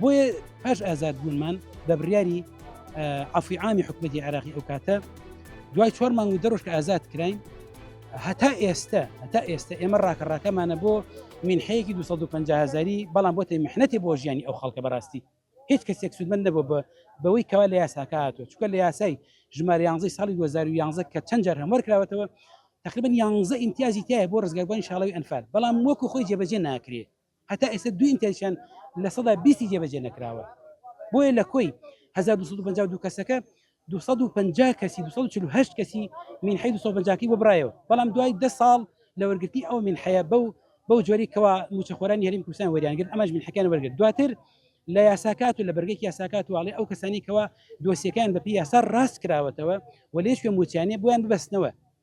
بۆیە پاش ئازادبوونمان بە بڕیاری عفوی عامی حکومەتی عراقی ئەو کاتە دوای چوار مانگ و دەڕۆژ کە ئازاد کراین هەتا ئێستا هەتا ئێستا ئێمە ڕاکە ڕاکەمانە بۆ منحەیەکی 250 هزاری بەڵام بۆ تەمەحنەتی بۆ ژیانی ئەو خەڵکە بەڕاستی هیچ کەسێک سوودمەند نەبوو بە بەوەی کەوا لە یاساکە هاتووە چکە لە یاسای ژمار یانزەی ساڵی 2011 کە چەند جار هەموار کراوەتەوە تقریبا یانزە ئیمتیازی تایە بۆ ڕزگاربووان شاڵەوی ئەنفال بەڵام وەکو خۆی جێبەجێ ناکرێت هەتا ئێستا دوو ئینتەرنێتیان لە سەدا بیستی جێبەجێ نەکراوە، بۆیە لە کۆی هەزار و دوو سەد و پەنجا و دوو کەسەکە دوو سەد و پەنجا کەسی دوو سەد و چل و هەشت کەسی مینحەی دوو سەد و پەنجا کەی بۆ برایەوە، بەڵام دوای دە ساڵ لە وەرگرتنی ئەو مینحەیە بەو بەو جۆرەی کەوا مووچەخۆرانی هەرێمی کوردستان وەریان گرت ئەمانش مینحەکەیان وەرگرت دواتر لە یاساکات و لە بەرگێکی یاساکات و ئاڵێ ئەو کەسانی کەوا دۆسیەکان بەپی یاسا ڕاست کراوەتەوە و لێش پێ موچیانێ بۆیان ببەستنەوە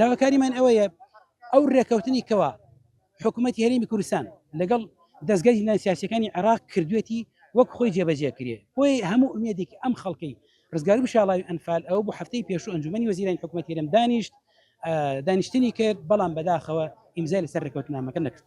داواکاریمان ئەوەیە ئەو ڕێکەوتنی کەوا حکوومەتتی هەرمی کوردستان لەگەڵ دەستگای زیندان سیاسەکانی عێراق کردوێتی وەک خۆی جێبەجێ کرێ بۆی هەموو ئومێدێک ئەم خەڵکەی ڕزگار و شاڵاوی ئەنفال ئەو بۆ هەفتەی پێشوو ئەنجومی وەزیران حکوومەت هەرم دانیشت دانیشتنی کرد بەڵام بەداخەوە ئیمزای لەسەر ڕێکوتنامەکە نەکرد.